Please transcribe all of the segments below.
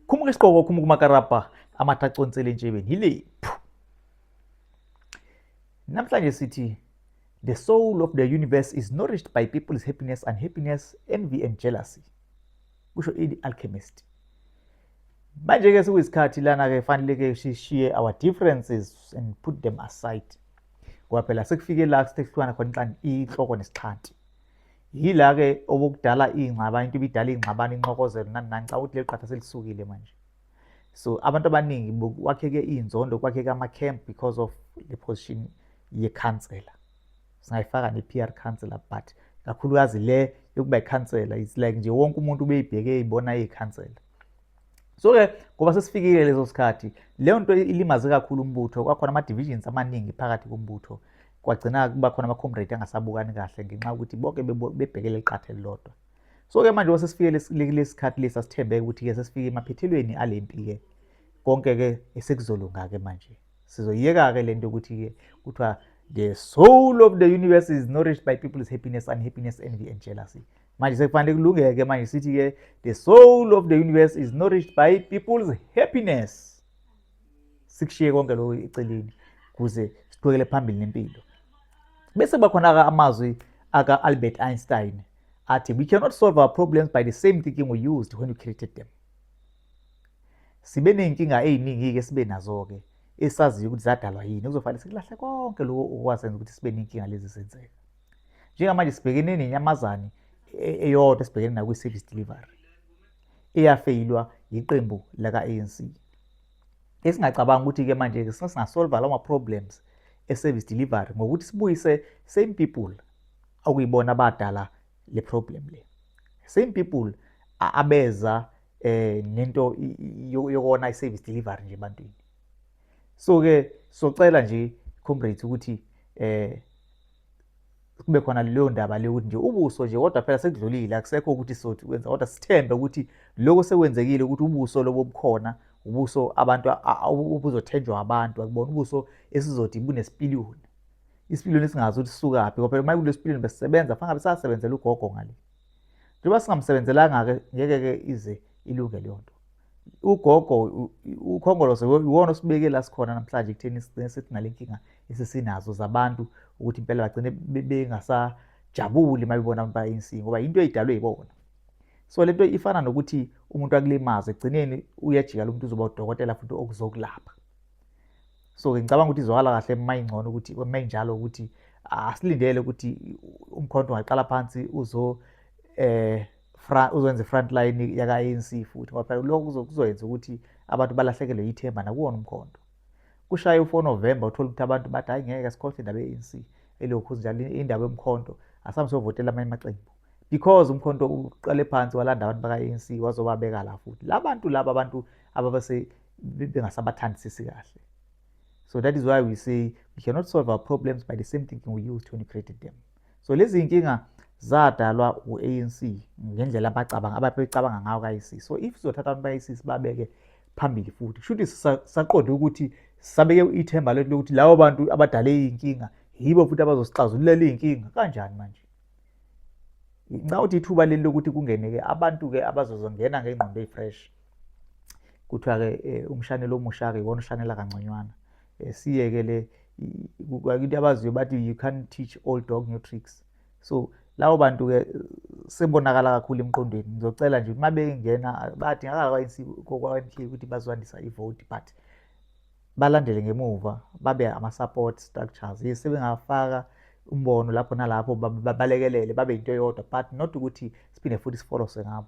khumuka isiqoko khumuka umakarabha amatha aconsele entshebeni yilephu namhlanje sithi the soul of the universe is nourished by people's happiness and happiness envy and jealousy kusho ini alchemist manje-ke sekuyisikhathi lana-ke fanele-ke sishiye our differences and put them aside ngoba phela sekufike la sithe kuhlukana khona inhloko nesixhanti Yila-ke okokudala iy'ngxabano, into ibidala iy'ngxabano, inxokozelo nani nani. Ngicabanga ukuthi leli qatha selisukile manje. So abantu abaningi kwakheke iy'nzondo, kwakheke ama-camp because of le position yekhansela. Singayifaka ne-PR councillor but kakhulukazi le yokuba ikhansela it's like nje wonke umuntu ubeyibheke ibona iyikhansela so-ke ngoba sesifikile leso sikhathi leyo nto ilimaze kakhulu umbutho kwakhona ama-divisions amaningi phakathi kombutho kwagcina kuba khona ama-comrade angasabukani kahle ngenxa yokuthi bonke bebhekele liqatha elilodwa so-ke manje uma sesifike kulesi sikhathi lesi asithembeke ukuthi-ke sesifike emaphethelweni ale mpi-ke konke-ke esekuzolunga-ke manje sizoyiyeka-ke le nto yokuthi-ke kuthiwa the soul of the universe is nourished by people's happiness unhappiness envy and jealousy manje sekufanele kulungeke manje sithi-ke the soul of the universe is nourished by people's happiness sikushiye konke lokho eceleni kuze siqhubekele phambili nempilo bese bakhona-ke amazwi aka-albert einstein athi we cannot solve our problems by the same thinking we used when we created them sibe ney'nkinga ey'ningi-ke esibe nazo-ke esaziyo ukuthi zadalwa yini kuzofanele sikulahle konke lokho okwasenza ukuthi sibe ney'nkinga lezi zenzeka njengamanje sibhekene nenyamazane e-, eyodwa esibhekene nakwi-service delivery eyafeyilwa yiqembu laka-anc esingacabanga ukuthi-ke manje-ke sesingasolva lawo ma-problems e-service delivery ngokuthi sibuyise same people okuyibona abadala le problem le same people abeza eh nento yokona i-service delivery nje ebantwini so-ke socela nje comrades ukuthi eh kube khona leyo ndaba leyo ukuthi nje ubuso nje kodwa phela sekudlulile akusekho ukuthi sothi kwenza kodwa sithembe ukuthi lokho sekwenzekile ukuthi ubuso lobo bukhona ubuso abantu obuzothenjwa abantu akubona ubuso esizothi bunesipiliyoni isipiliyoni esingazi ukuthi sisukaphi ngoba phela uma kulesipiliyoni besisebenza fanele besasebenzela ugogo ngale njengoba singamsebenzelanga-ke ngeke-ke ize ilunge leyo nto ugogo ukhongolose iwona osibeke la sikhona namhlanje kutheni sigcine sithi nale nkinga esesinazo zabantu ukuthi impela bagcine bengasajabuli uma bebona abantu ba-anc ngoba yinto eyidalwe yibona so le nto ifana nokuthi umuntu akulimaze ekugcineni uyajika lo muntu uzoba udokotela futhi okuzokulapha so-ke ngicabanga ukuthi izwakala kahle uma ingcono ukuthi uma injalo ukuthi asilindele ukuthi umkhonto ungaqala phansi uzo um uzokwenza i-front line yaka-anc futhi ngoba phela lokho kuzoyenza ukuthi abantu balahlekelwe yithemba nakuwona umkhonto kushaye u-four november uthole ukuthi abantu bathi hhayi ngeke sikhohlwe indaba ye-anc elokhu njalo indaba yomkhonto asambe sovotela amanye amaqembu because umkhonto uqale phansi walanda abantu baka-anc wazobabeka la futhi la bantu laba abantu ababase bengasabathandisisi kahle so that is why we say we cannot solve our problems by the same thinking we use to created them so lezi iy'nkinga zadalwa u-anc ngendlela abacabanga ababecabanga ngayo kayisisi so if sizothatha abantu bayisisi babeke phambili futhi kusho ukuthi saqonde ukuthi sabeke ithemba lethu lokuthi labo bantu abadale iy'nkinga yibo futhi abazosixazululela iy'nkinga kanjani manje nxa uthi ithuba leli lokuthi kungene-ke abantu-ke abazozongena ngey'ngqondo ey'fresh kuthiwa-ke um umshanelo omusha-ke iwona ushanela kangconywana eh, siyeke le into abaziyo bathi you can't teach all dog new tricks so lawo bantu ke sebonakala kakhulu emqondweni ngizocela nje uma bengena badingakala kwa-ANC kwa-MK ukuthi bazokwandisa ivoti but balandele ngemuva babe ama-support structures yes sebengafaka umbono lapho nalapho babalekelele babe yinto eyodwa but not ukuthi siphinde futhi sifolose ngabo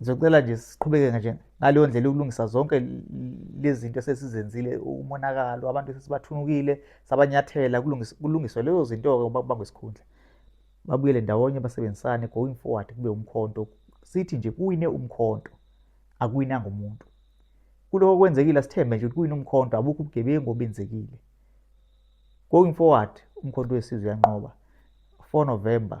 Ngizocela nje siqhubeke nje ngaleyo ndlela ukulungisa zonke lezi zinto esesizenzile umonakalo abantu esesibathunukile sabanyathela kulungiswe lezo zinto-ke uma kubangwa isikhundla babuyele ndawonye basebenzisane going forward kube umkhonto sithi nje kuwine umkhonto akuwinanga umuntu kuloko kwenzekile asithembe nje ukuthi kuwine umkhonto abukho ubugebengu obenzekile going forward umkhonto wesizwe uyanqoba 4 november